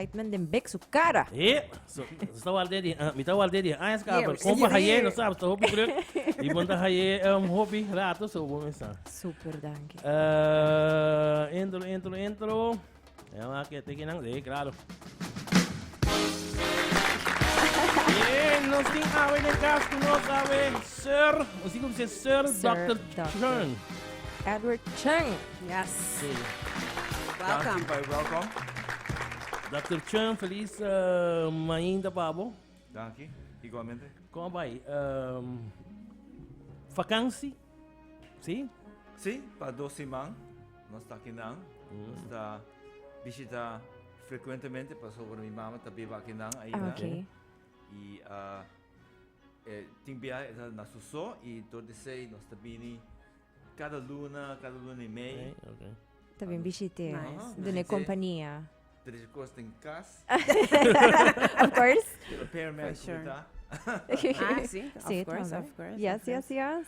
Excitement den bek su cara. E, so, so ta walde di, ah, mi ta walde di, ah, es ka, Yeah, pero we see kompa it haye, here. no sabes, ta hopi druk. I bon ta haye um, hopi rato, so bon mi sa. Super danki. Eh, intro, intro, intro. Ja, maar ik teken lang, nee, claro. Bien, nos ging awe de kas ku nos awe, sir, ons ik op ze sir, Sir Dr. Dr. Chern. Edward Chung. Yes. Oké. Welcome. Danki, welcome. Dokter Chun, feliz mainta pa bo. Danki, igualmente. Kom bai, um, vakansi, si? Si, pa dos siman, nos ta kinan. Mm. Nos ta bishita frecuentemente, pa sobra mi mama ta biba kinan ainda. Okay. I uh, eh, tin biahe na suso, i dor di sei nos ta bini Kada luna, kada luna i mei. Ta bin bishit'é, dun'é kompania. Trisha kos den kas. Of course. Prepare me ayi ku mi ta. Ah, sí. Of course, of course. Yes, yes, yes.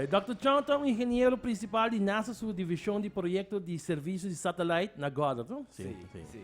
Dòkter Chong ta un ingeniero prinsipal di nasa su divishon di proyekto di servisio di satalait na Goddard, to? Sí, sí.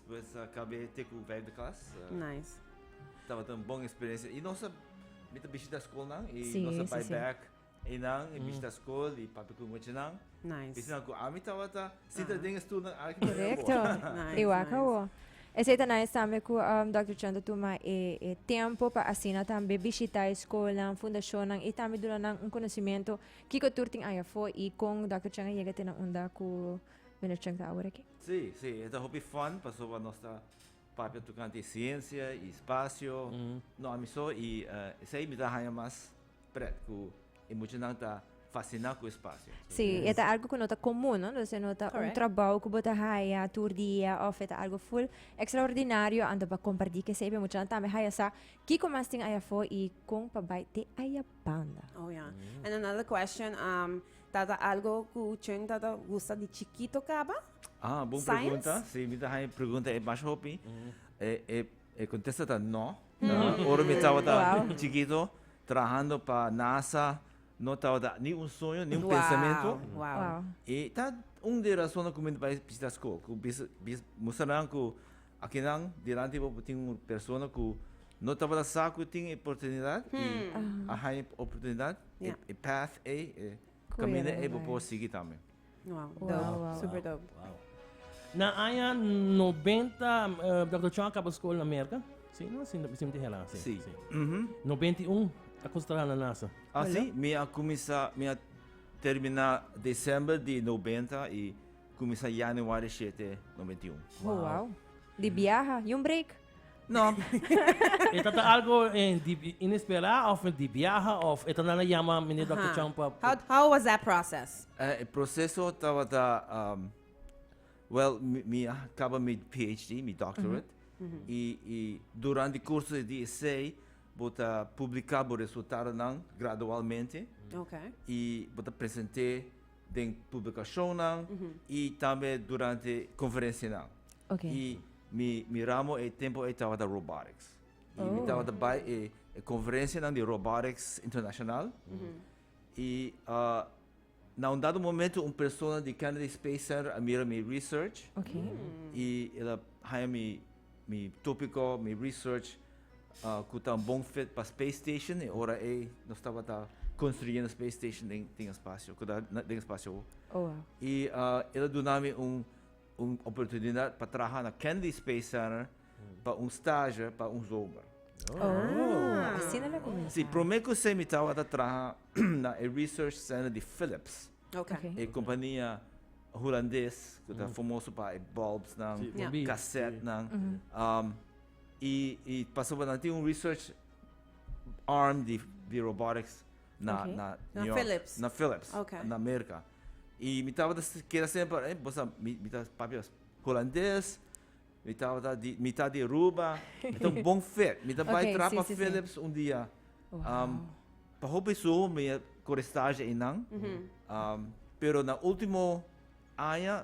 Pues a kab'é te ku vijfde klas. Nice. Tabata un bon eksperensia. I nos a mi ta bishita skolnan i nos a bai bèk einan i bishita skol i papia ku ngochenan. Nice. Ese nan ku ami tabata sinta den e stulnan aki ta e awor. Korekto. Igual ku awor. Esei ta nice tambe ku Dòkter Chon ta tuma e tempu pa asina tambe bishita e skolnan, fundashonnan i tambe duna nan un konosementu kiko tur tin ahi afó i kon Dòkter Chon a yega te nan unda ku Mister Chon ta aworakí. Sí, sí, e ta hopi fun pasoba nos ta papia tocante e ciencia, e espacio, no ami so y esey mi ta haya mas pret cu e muchanan ta fascina cu espacio. Sí, e ta algo cu no ta comun, no? Entonces no ta un trabou cu bo ta haya tur dia of e ta algo full extraordinario anto pa comparti cu esey pa e muchanan tambe haya sa kico mas tin ayafo y con pa bay te aya banda. Oh ya, and another question, Tata algo cu Chun tata gusta di chikito caba? Ah, bon pregunta. Si, mi ta haña e pregunta e mas hopi. E contesta ta no. Ora mi tabata chikito, trabahando pa NASA, no tabata ni un suño, ni un pensamento. I ta un di e rasonnan cu mi no bai bishita scol. Cu bisa, bisa, mustra nan cu Akinan dilanti bo por tin un persona ku no tabata sa ku tin e oportunidat i a haña e oportunidat, e path ei, e kaminda ei bo por sigui tambe. Wow, dope. Super dope. Na aña nobenta Dòkter Chong a kaba skol na Merka, si no? Si mi tin hera, si. Si. Nobenta i un a kuminsá traha na nasa. Asi, mi a kuminsá, mi a terminá desèmber di nobenta i. Kuminsá Januari shete noventa i un. Oh wow. Di biaha, yu un break. No. E ta ta algo di inesperá òf di biaha òf e ta nan a yama Miner Dòkter Chong pa. How how was that process? E proseso tabata wèl mi a kaba mi PHD, mi doctorate, i i durant di kurso di esei bo ta publiká bo resultadonan gradualmente i bo ta present'é. den publicacionnan y tambe durante conferencianan. Y mi mi ramo e tempo ey tabata robotics. Y mi tabata bay e e conferencianan di robotics internacional. Y na un dado momento un persona di Kennedy Space Center a mira mi research y el a haya mi mi topico, mi research. ku ta bon pa space station e ora ei nos tabata konstruyendo space station den e spasio ku ta den e spasio awo i e ta duna mi un un oportunidat pa traha na Kennedy Space Center pa un stage pa un zomer asina lo kuminsá si promé kusé mi tabata traha na e research center di Philips e kompania hulandes ku ta famoso pa e bulbsnan kasètnan. Y y pasobra nan tin un research arm di di robotics na Oké. na Na New York, Philips. na Philips Oké. na Merca. Y mi tabata s- keda semper eh bosa mi mi ta papi was Hulandes, mi tabata di mi ta di Aruba, mi ta un bon fit, mi ta bai Oké, trap sí, pa sí, sí. Philips un dia. Um pa hopi besuho mi a kore stage einan, um pero na ultimo aña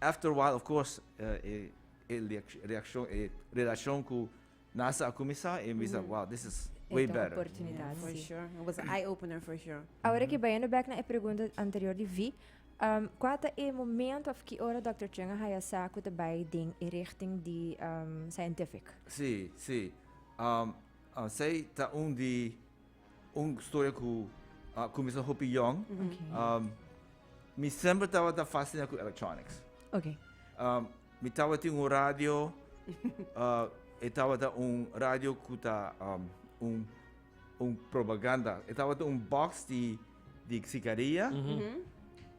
After a while of course e reaccion e relacion cu Nasa a cuminsa e mi bisa wow this is way better. Yeah for sure it was a eye opener for sure. Awor aki bayendo back na e pregunta anterior di Vee um cua ta e momento of ki ora Doctor Cheng a haya sa cu ta bay den e richting di um scientific? Si si um um esey ta un di. Un storia ku a kuminsá hopi yòn. Um, mi sempre tabata fasciná ku electronics. Okay. Um, mi tabata tin un radio, uh, e tabata un radio ku ta um, un un propaganda. E tabata un box di di sigaria. Mm -hmm.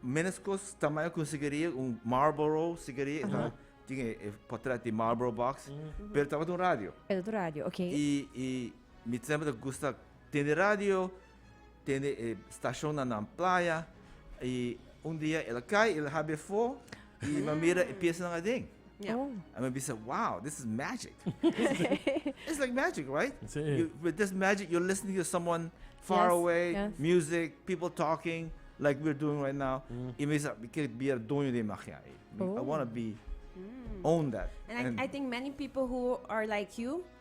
Menos kos tamaño ku sigaria, un Marlboro sigaria, uh -huh. tin e, e portret di Marlboro box, mm -hmm. pero tabata un radio. Pero radio, okay. I i Mi semper ta gusta tende radio, tende e stashonnan nan playa, i un dia el a kai, el a habia afó, i mi a mira e piasanan aden. Ya. Oh. I mi a bisa, wow, this is magic. It's like magic, right? Sí. You, with this magic, you're listening to someone far Yes, away, yes. music, people talking, like we're doing right now. I mi bisa, mi kier bira doño di e magia ei. Mi- I Oh. want to be, own that. And I, I think many people who are like you,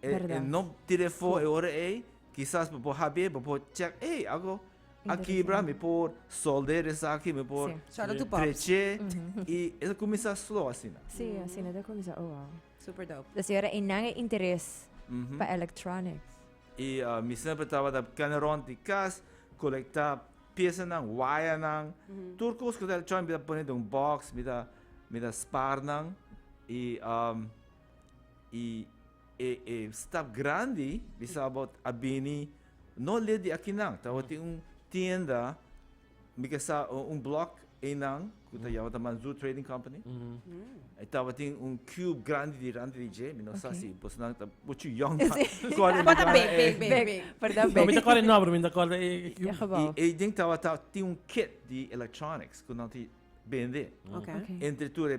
E, e no tire fo e ora ei, kisas bo por habie, bo por check, ei, ago, aki bra, mi por solder esaki, mi por treche, i e ta kumisa slow asina. Si, asina ta kumisa, oh wow. Super dope. Des ora ei nan e interes pa electronics. I mi semper tabata kende rond di kas, kolekta piesanan, wayanan, tur kos ku ta electronic mi ta pone den un box, mi ta, mi ta spar nan, i. y e e staf grandi di Sabot a bini no led di akinan, tabatin un tienda mi ke sa un blok einan ku ta yama ta Manzou Trading Company. E tabatin un cube grandi di ranta di dje, mi no sa si bosonan ta muchu yong pa kòrda e Kòrda big, big, big, big. big. Verdad No mi big. ta kòrda e nòmber, mi ta kòrda e e cube. E gebou. I eiden tabata tin un kit di electronics ku nan ta bende. Oké. Oké. Entre tur e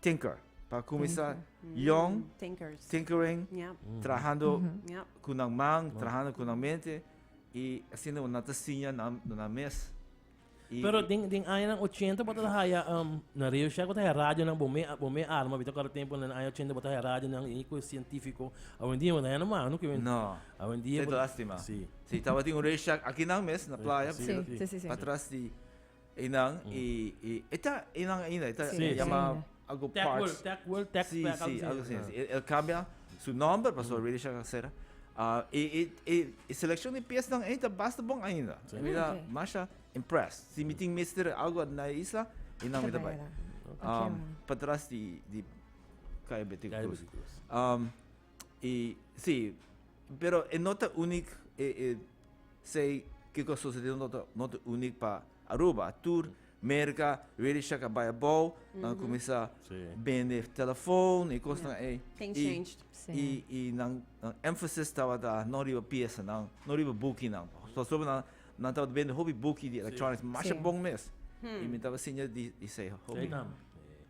Tinker, pa kuminsá yòn, tinkering, trahando ku nan man, trahando ku nan mente, i asina bo nan ta siña nan nan mes. Pero den den añanan ochenta bo ta haya na Radio Shack bo ta haya radionan bo me bo me arma bita ku a tempu na aña ochenta bo ta haya radionan i ku e sientífiko awendia bo ta haya na mano ku awendia bo ta si tabatin un Radio Shack akinan mes na playa atras di Einan e e e ta einan ainda e ta Sí, e llama ainda. algo Tech World, parts. Tech World, Tech Sí, Pack, sí, algo algo así. así. El, el cambia su nomber, pasó already ya cancera. Ah, e e e e seleccion di piesnan ei ta basta bon ainda. Sí. Mi ta Oké. masha impressed. Si mi tin mester algo na e isla, einan mi ta bai. Oké, Um, man. patras di di Caya Betica Caya Cruz. Betica Cruz. Um, Y si, pero e no ta unic e e say kico sucede no ta no ta unic pa Aruba. Tur Merca ready shak a bay abao, nan a cuminsa Sí. bende telefoon y cos nan ey. Things Y changed. Sí. y y nan nan emphasis tabata no riba piesanan, no riba bukinan. Pasobra nan nan tabata bende hopi buki di electronics Sí. masha Sí. bon mes. Y mi taba siña di di say hopi. Ey nan.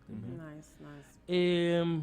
Nice, nice. E.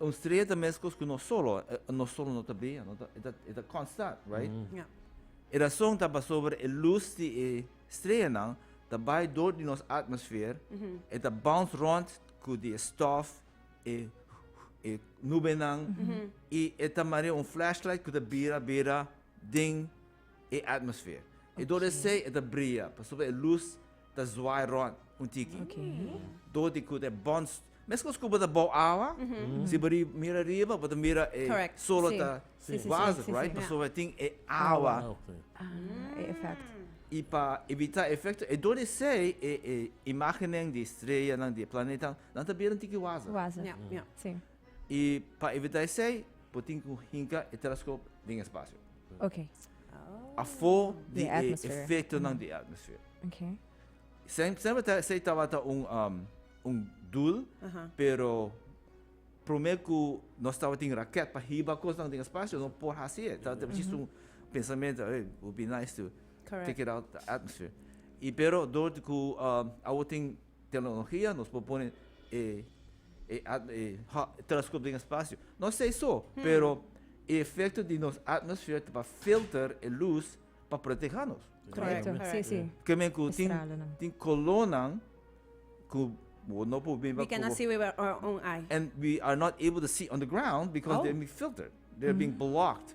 Un strea ta meskos ku no solo, no solo no ta bea, no ta, e ta, e ta konstant, right? Ja. E rason ta pasober e lus di e streanan ta bai dor di nos atmosfer, e ta bounce rond ku di e stof, e e nubenan, i e ta marea un flashlight ku ta bira bira den. e atmosfeer. I dor esei e ta bria pasobra e lus ta zwaai rònt un tiki. Dor di ku ta e bòn st, meskos ku bo ta bou awa, si bo mira riba bo ta mira e sol lo ta wazig, right, pasobra e tin e awa. I pa evitá e efekto, e dor esei e imágenen di streyanan, di e planetanan, nan ta bira un tiki wazig. I pa evitá esei bo tin ku hinka e teleskop den espasio. Ok. Afó di e efektonan di e atmosfer. Ok. Sem sempre ta esei tabata un um un dul, pero promé ku nos tabatin rakèt pa hiba kosnan den espasio no por hasi e. Ta presis un pensamentu, ey, it would be nice to take it out the atmosphere. I pero dor di ku um awo tin Tecnologia nos por pone e, e, e, e telescoop den espacio. No sei so, hmm. pero e efecto di nos atmosfera pa filter e luz pa protegernos. Correcto, sí, sí. Que me cu tin, tin colonan cu no por bimba We cannot see with our own eye. And we are not able to see on the ground because oh. they're being filtered. They're mm. being blocked.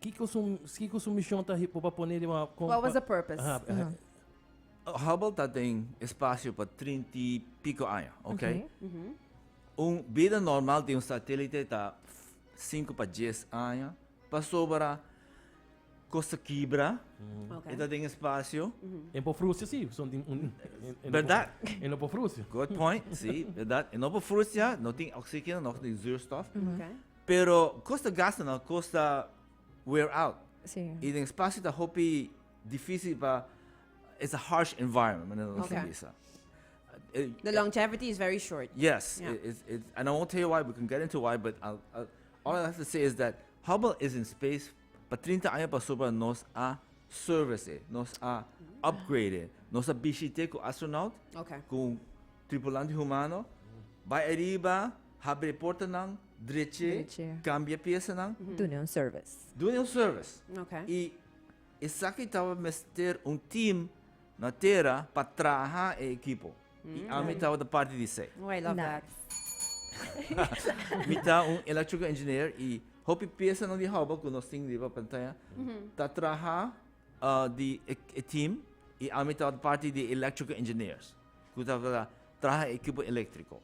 Kiko su, kiko su mishon ta hi- por pa poné riba kon What was pa- the purpose? Aha, eh, Ujú. Hubble ta den espacio pa trinta y pico aña, ok? Un bida normal di un satélite ta cinco pa dies aña, pasobra cos ta kibra, Ok. e ta den espacio, En por frustria, sí. Son tin- un- en- en- Verdad. En no por frustria. good point, sí, verdad? E no por frustia, no tin oxígeno, no tin zuurstof. Ok. Pero cos ta gasta no cos ta wear out. Sí. Y den espacio ta hopi difícil pa it's a harsh environment, manera nos okay. bisa. Eh, the longevity is very short. Yes, yeah. it, it, it, and I won't tell you why. We can get into why, but I'll, I'll, all I have to say is that Hubble is in space. Pa 30 años pasó para nos a service, nos a upgrade, nos a visite con astronaut, okay. con tripulante humano. By arriba, Habri portanan dreche. Dreche. Kambia piesanan. Dune un service. Dune un service. Ok. I esaki taba mester un team na tera pa traha e ekipo. I ami tabata parti di esei. Oh, I love that. Nice. Mi ta un electrical engineer i hopi piesanan di houba ku nos tin riba pantaya ta traha di e team i ami tabata parti di e electrical engineers ku tabata traha e ekipo elektriko.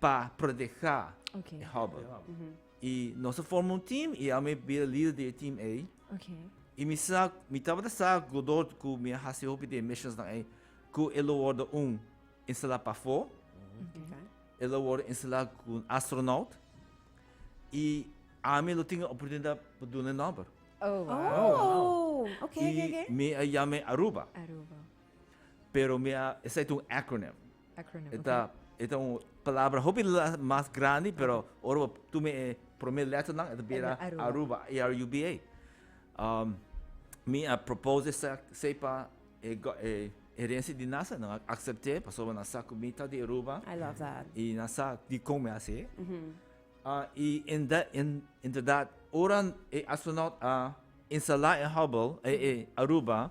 Pa proteha e hobbe. I nos a forma un team i ami a bira lider di e team ei. I mi sa, mi tabata sa godor ku mi a hasi hopi di e missionsnan ei, ku e lo wòrdu un instalá pafó, e lo wòrdu instalá ku un astronaut, i ami lo tin e oportunidat pa duna e nòmber. I mi a yama e Aruba. Pero mi a, esai ta un acronym. Acronym, E ta, okay. e ta un palabra hopi la- mas grandi, pero ora bo tuma e promé lèternan, e ta bira Aruba. Aruba. Aruba, A-R-U-B-A. Um, mi a propose esei, esei pa e go, e herensia di nasa, nan a aksept'é, pasobra nan sa ku mi ta di Aruba. I love that. I nan sa dikon mi a hasié. Ah, i en da, en, inderdat, ora e astronaut a instalá en Hubble, e, e Aruba,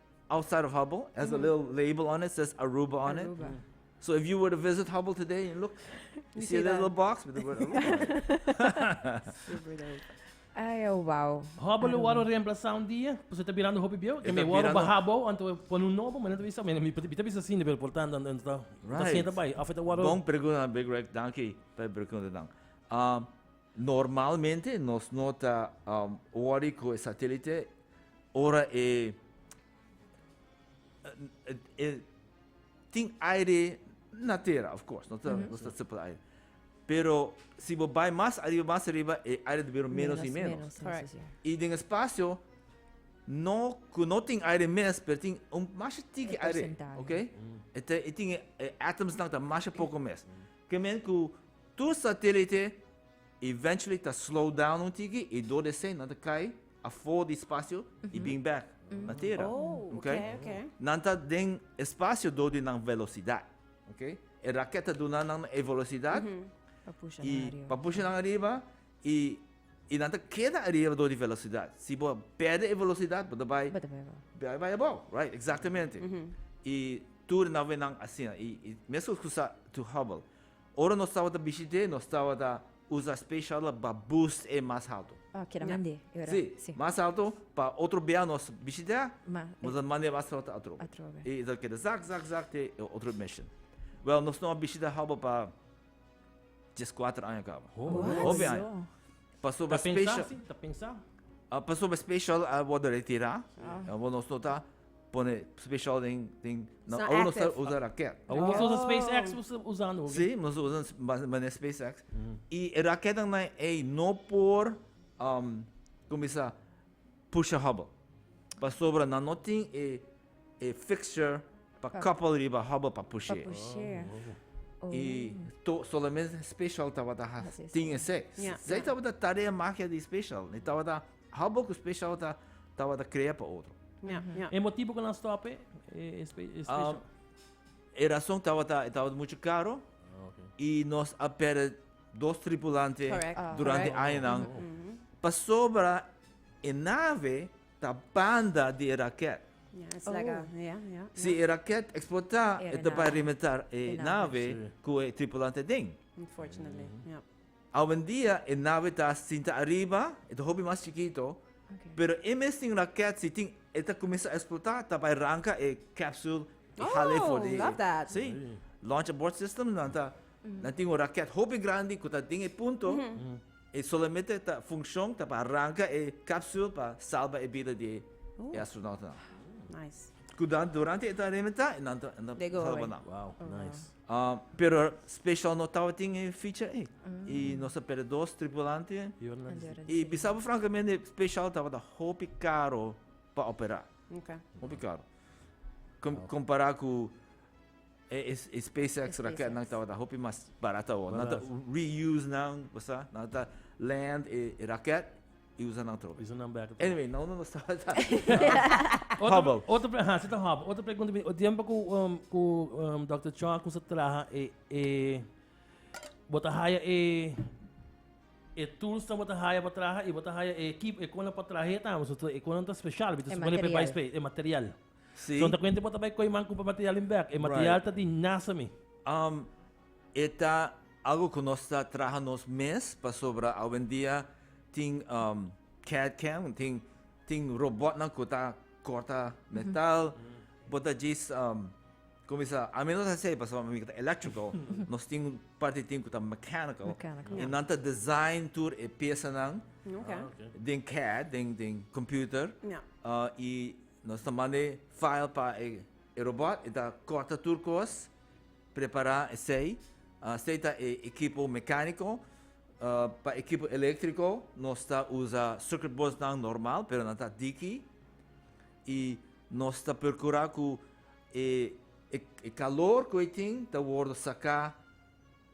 Outside of Hubbell has a little label on it says Aruba on it. Aruba. So if you were to visit Hubbell today and look, you see a little box with the word Aruba on it. Super dope. Ay, oh, wow. Hubbell Aruba. waro reemplazá un dia, pasobra ta birando hopi bieu. Te mi waro ba Hubbell, anto e pone un nobo, mane ta bisa, mira, mi ta bisa asina, pero por tanda anto ta, ta sienta bai. Afe ta waro. Bon pregunta, Big Rick. Danki pa e preguntanan. Um. Normalmente nos no ta worry cu e satelite ora e tin aire na tera, of course, nos ta sipla aire. Pero si bo bay mas ariba, mas ariba e aire ta bira menos y menos. Y den e spacio cu no tin aire mes, pero tin un masha tiki aire, ok? E tin e atoms nan ta masha poco mes. Kemey cu. Tur satilite eventually ta slow down un tiki y door desey nan ta cay afo di espacio y bin back na tera. Nan ta den espacio door di nan velocidad. E raket ta duna nan e velocidad y pa pusha nan ariba y y nan ta keda ariba door di velocidad. Si bo perde e velocidad bo ta bay bay abao right exactamente y tur nan awe nan asina y mescos cu sa to hubble Ora nos tabata bishit'é, nos tabata usa special la pa boost e mas halto. Oh, keda mand'é e ora. Sí, Sí. mas halto pa otro bia nos bishit'é, Ma, nos e. ta mand'é mas halto atrobe. Atrobe. I e ta keda zak, zak, zak te e otro mission. Wèl, nos no a bishita Hubble pa dieskuater aña kaba. Ho, What? Hopi aña. Aso. Pasoba special. Ta pensa. Uh, pasoba special a uh, worde retira. Ah. Uh, nos nota pone special den den na so nos ta usa raket. Oh. Nos usa SpaceX usando. Sí, nos usa mané SpaceX. Mm. Y raket dan na ei no por um como dice pusha Hubble. Pasobra na no tin e E fixture pa koppel riba hobbe pa pushé. I to solamente special tabata ha tin esei. Sei tabata tarea magia di special. E tabata hobbe ku special ta tabata krea pa otro. E motibu ku nan stop e special? E rason tabata e tabata muchu karo i nos a perde dos tripulante durante añanan pasobra e nave. Ta banda di e raket. Si e raket eksplotá, e ta bai rebentar e nave ku e tripulant aden. Awendia e nave ta sinta ariba, e ta hopi mas chikito, pero e mesten raket si tin e ta kuminsá eksplotá ta bai ranka e capsule i hala e for di si. Launch abort system nan ta nan tin un raket hopi grandi ku ta den e punto. E solamente ta funkshon ta pa aranka e kapsul pa salba e bida di e astronautanan. Kuda durante e ta rebentá e nan ta salba nan. Pero speshal no tabatin e ficha ei. I nos a perde dos tripulante. I bisa bo frankamente speshal tabata hopi karo pa operá. Hopi karo. Kompará ku. E, e, e SpaceX raket nan tabata hopi mas barat awor. Nan ta reuse nan, basta, nan ta land e, e raket i usa nan tropi. Usa nan back. Anyway, nou nan nos tabata. Hubble. Otro, pre, ha, sita Hubble. Otro pregunta, o tiempo ku, um, ku um, Dr. Chong ku sa traha e, e, bota haya e, e tools ta bota haya pa traha i bota haya e equipo, e konan pa traha e tamo, so, e konan ta special, bita supone pe bai space, e material. Sí. So ta cuenta bo ta bay coy man cupa material in bek. E material right. ta di nasa mi. Um, eta algo que nos ta traha nos mes pa sobra awendia tin um, CAD cam, tin tin robot nan que ta corta metal. Mm -hmm. Bota jis um, Comisar, a mim não está sei, passou a mim que tá electrical, nós temos parte tem que tá mechanical, mechanical. e não tá design tour e peça não, okay. Ah, okay. tem CAD, tem tem computer, yeah. uh, e Nos ta manda e file pa e robot, e ta corta tur cos, prepara esey. Esey ta e ekipo mecanico. Pa ekipo electrico nos ta usa circuit boards nan normal, pero nan ta diki. Y nos ta procura cu e calor cu ey tin ta wordo saca.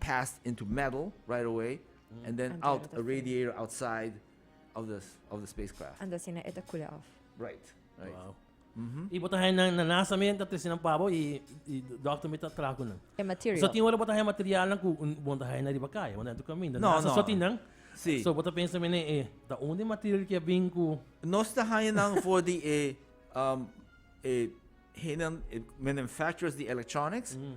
passed into metal right away and then out a radiator outside of the of the spacecraft. And asina e ta kule off. Right. Right. Wow. Mm-hmm. Y bota hen na NASA men ta tesinan pabo y y doctor met ta trago nan. E material. So tin hora bota hen material nan ku bonta hen na riba kai, bonta hen tu kaminda. No, NASA no. so tin nan. Sí. So bota pensa men e ta onde material ke bin ku Nos ta haña nan for di e um e henan e manufacturers di electronics. Mm.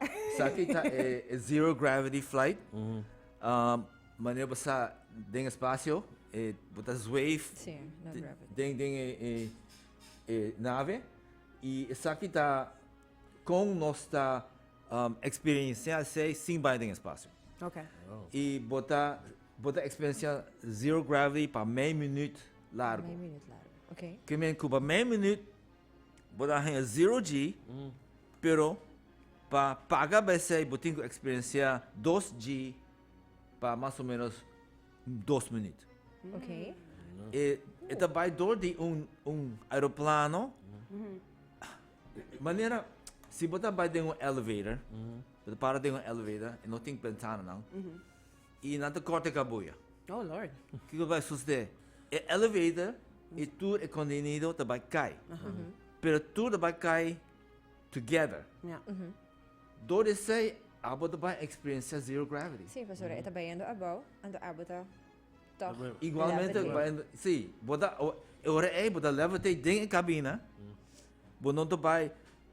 Esaki ta e zero gravity flight. Manera bo sa den espacio, e, bo ta zweef Sí, no te- gravity. den, den e, e, e nave. Y esaki ta con nos ta um, experiencia esei sin bai den espacio. Okay. Y bo ta, bo ta experiencia zero gravity pa mei minuut largo. Meio minuut largo. Okay. Ke men cu pa mei minuut Bo ta haya zero G, pero pa paga pa esey bo tin ku eksperensiá dos G pa mas o ménos dos minüt. E e ta bai dor di un un aeroplano, manera si bo ta bai den un elevator, bo ta para den un elevator, e no tin bentana nan. Y nan ta corta e cabuya. Oh Lord. Kico bay sucede? E elevator y tur e contenido ta bay cay. Pero tur ta bay cay together. Ya. Door di esey abo ta bay experiencia zero gravity. Si, pasobra e ta bayendo abao, anto abo ta toch levitate. Igualmente bayendo, si, bo ta, e ora ey bo ta levitate den e cabina, bo no ta bay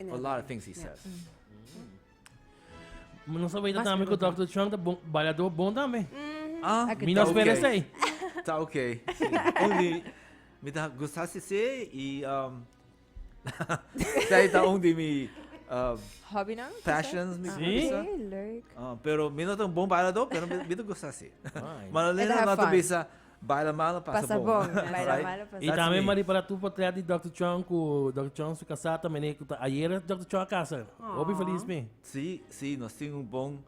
A lot of things he says. Mm. Nos sabia Mas también que pregunta. Dr. Chung ta bon, bailador bon también. Ah, Ek Mi no ta spera oké. sei. Ta oké. Sí. Un di mi ta gusta si sí y um, sei ta un di mi uh, Hobby nou? passions mi Sí. bisa. Oké, leuk. Ah, pero mi no ta un bon bailador, pero mi, mi ta gusta si. Fine. Malalena have no ta fun. bisa Baila malo pasa bon. Y tambe Marie para tur portret di Dòkter Chong cu Dòkter Chong su casá ta mene cu ta ayer es Dòkter Chong a casa. Hopi feliz mi. Si, si, nos tin un bon,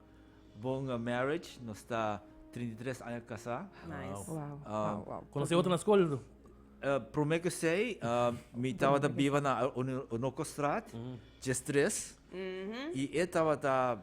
bon marriage, nos ta trinta i tres aña casá. Conoce otro na scol? Prome kesey mi tabata biba na Onocostraat, Djes tres, y e tabata.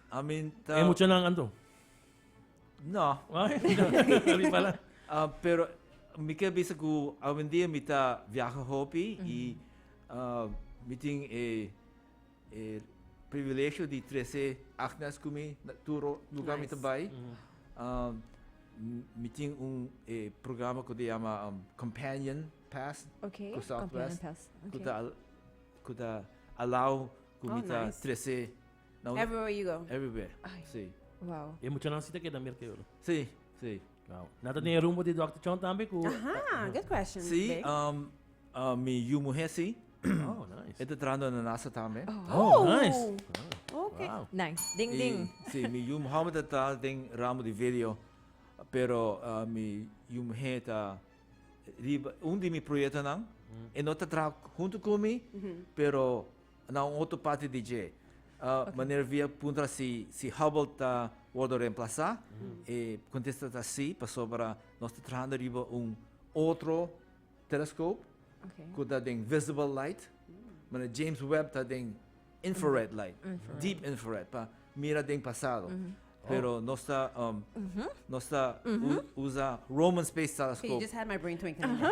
I mean, ta... E muchanan anto? No. uh, pero mi ke bisa ku awendia mi ta viaja hopi mm -hmm. i uh, mi tin e, e privilegio di trece acnas ku mi na turo lugar nice. mi ta bai. Mm -hmm. uh, mi tin un e programa ku te llama um, Companion Pass okay. ku Southwest. Pass. Okay. Ku ta ku ta allow ku oh, mi ta nice. trece Nou, nou. Everywhere you go. Everywhere. Ay. Sí. Wow. E muchanan si ta keda merke oro. Sí, sí. Wow. Na ta den rumbo di Dr. Chon tambe ku Aha, good question. Sí, babe. um, uh, mi yu muhe sí. Oh, nice. E ta trahando na NASA tambe. Oh, nice. Okay. Wow. Nice. Ding, ding. Y sí, mi yu Mohammed ta trahando den ramo di video, pero uh, mi yu muhe ta riba un di mi proyectonan. E no ta traha junto ku mi, pero Na un otro parti di dje, Manera Via puntra si si Hubble ta wordo reemplasá. E contesta ta sí, pasobra nos ta trahando riba un otro telescope cu ta den visible light, manera James Webb ta den infrared light, deep infrared, pa mira den pasado. Pero nos ta nos ta usa Roman Space Telescope. He just had my brain twinkling again.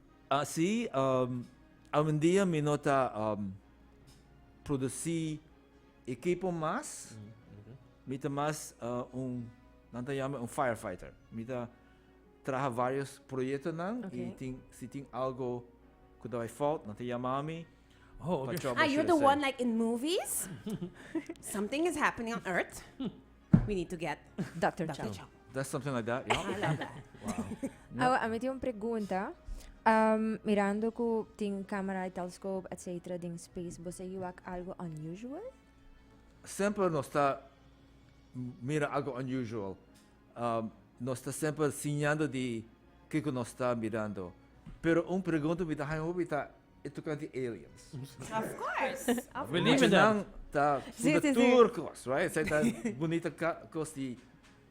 Así, awendia mi no ta producí ekipo mas, mi ta mas un, nan ta yama un firefighter. Mi ta traha vários proyektonan i tin, si tin algu ku ta bai fòut, nan ta yama mi. Oh, okay. Are you the one like in movies? something is happening on Earth. We need to get Dr. Dr. Chow. That's something like that. Yeah. I love that. Wow. Yeah. Ahora, me tiene una pregunta. Um, mirando cu tin camera, telescope, etc. din space, vos hay algo unusual? Sempre no está mira algo unusual. Um, no está sempre enseñando de que no está mirando. Pero un pregunta me da, e tocante aliens. Of course, of Believe in that. ta sí, sí, tour cos, right? Zij ta bonita cos di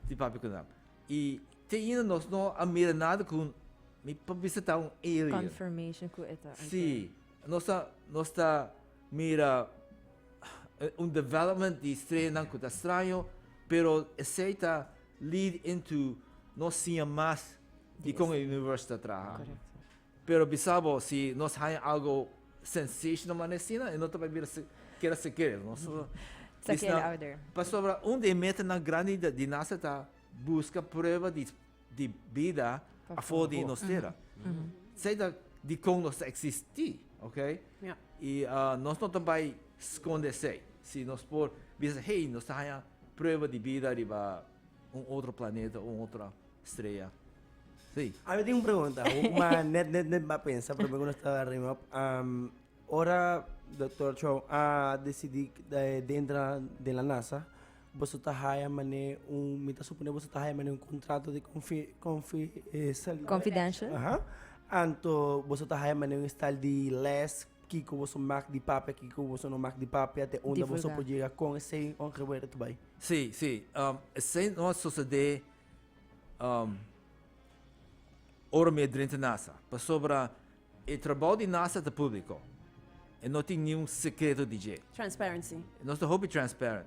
di papi con hem. Y te ainda nos no a mira nada con mi pa visita un alien. Confirmation cu eta. Sí, nos ta nos ta mira eh, un development di estrenan cu ta extraño, pero ese ta lead into no siña más di con el universo ta traha. Correcto. Pero bisa bo, si nos haña algo sensational manera asina, e no ta pa bira keda seker. Nos ta disna. Pasobra un di e metanan grandi di nasa ta buska prueba di bida afo di nos tera. Esei ta dikon nos ta eksistí, oke? I nos no ta bai skonde esei. Si nos por bisa, hei, nos ta haña prueba di bida riba. Un otro planeta o un otro strea. Sí. A mi tin un pregunta, ma net net net a pensa promer ku nos ta ring up. Ora Dokter Chou a desidi di entra den la nasa, boso ta haya manera un, mi ta supone boso ta haya manera un kontrato di konfi-konfi-, eh, sali-. Confidential. Aha. Anto boso ta haya manera un estal di les Kiko boso mak di papia, kiko boso no mak di papia, te unda boso por yega kon esei ongel wera ta bai? Sí, sí, esei no a sosodé ora mi a drenta nasa, pasobra e trabou di nasa ta públiko, e no tin niun sekreto di dje. Transparency. Nos ta hopi transparent,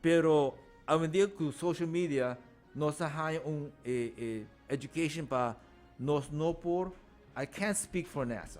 pero awendia ku social media nos a haña un education pa nos no por, I can't speak for nasa.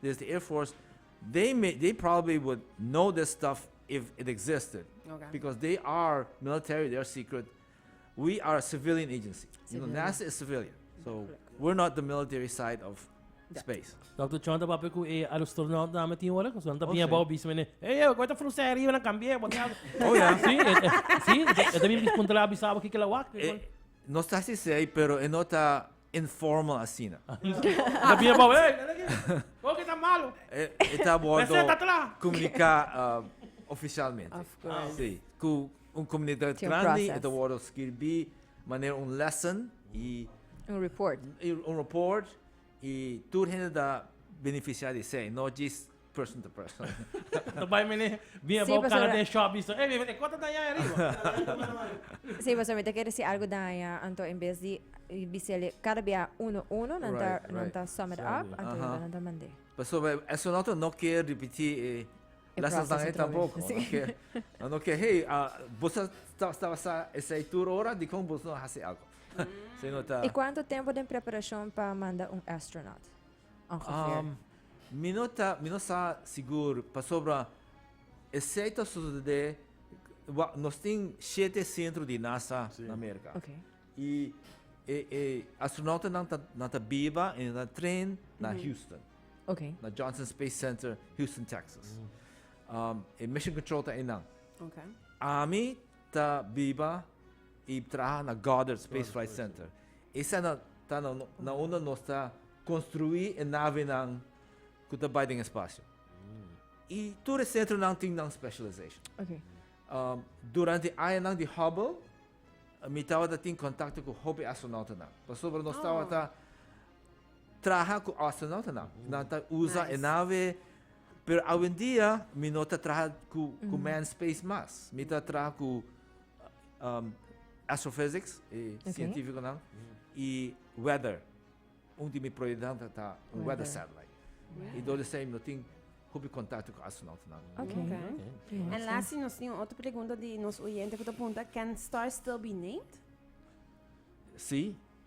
This the air force they may they probably would know this stuff if it existed okay. because they are military they're secret we are a civilian agency you know nasa is civilian so we're not the military side of space Dr. John ta papi ku e astronaut na me tin ora ku son ta bien bau bis mene hey yo koi ta fruse arriba na cambie bo ta oh ya sí sí ta bien bis puntra bisaba ki kela wak no está si sei pero e nota informal asina. Ta bia pa we. Por ke ta malo. E ta wordo comunica oficialmente. Si, cu un comunidad grandi e ta wordo skirbi manera un lesson y. Un report. Un report y tur hende ta beneficia di esey, no djis. person to person. Ta bai mene bin abao pasobra- cara den shop bisto, ey mi e kota daña ay ariba. Sí, pasobra mi ta kere si algo daña, anto en bes di bisele cada bia uno uno, nan ta Right, nan right. ta sum it Sum it up, up. anto Aha. nan ta mand'é. Pasobra eso noto no ke ripití e E lessons dan proces ei otra vez, tampoco. sí. No ke, nan no ke, hey, ah, bo sa ta sta basa esei tur ora, dikon boso no a hasi algo? Sino ta. I cuanto tempo den preparacion pa manda un astronaut? Mi no ta, mi no sa sigur pasobra esei ta sosodé, wak, nos tin shete sentro di NASA na Amerika. I e e astronoutonan ta nan ta biba i nan ta train na Houston, na Johnson Space Center Houston Texas. E mission control ta einan. Ami. ta biba y traha na Goddard Space Flight Center. Esana ta na unda nos ta construi e navenan cu ta bay den espacio. Y tur e centronan tin nan specialization. Okay. Um, durante e añanan di Hubble, mi tabata tin contacto cu hopi astronautanan. Pasobra nos tabata traha cu astronautanan. Nan ta usa e nave Pero awendia mi no ta traha ku ku mm. man space mas. Mi ta traha ku um, astrophysics, eh, okay. científico nan, i weather. Un di mi proyecto ta, ta un weather, satellite. Wow. I dole sei no tin hopi contacto com astronauta nan. Okay. okay. okay. En laatste nos tin otra pregunta di nos oyente que te pregunta, can stars still be named? Sí.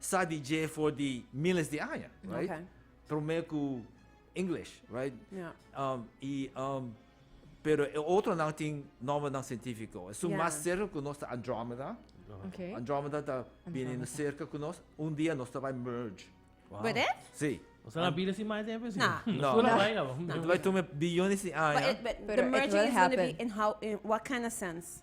sa di dje for di miles di aña, right? Okay. Promé ku English, right? Yeah. Um, i um, pero e otro nan tin nombernan científico. Su yeah. mas cerca ku nos ta Andromeda. Okay. Andromeda ta bini cerca ku nos. Un dia nos ta vai merge. Wow. But it? Sí. O sea, la vida sin más tiempo. No. No. No. no. no. It vai tome biljones di aña. But, it, but pero the merging is going to be in how, in what kind of sense?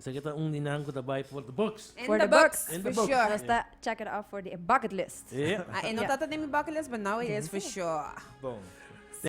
Esaki ta un di nan ku ta bai for the books. In the books, for sure. Nos ta check it off for the bucket list. Ahi no ta ta den mi bucket list but now it is for sure. Bon.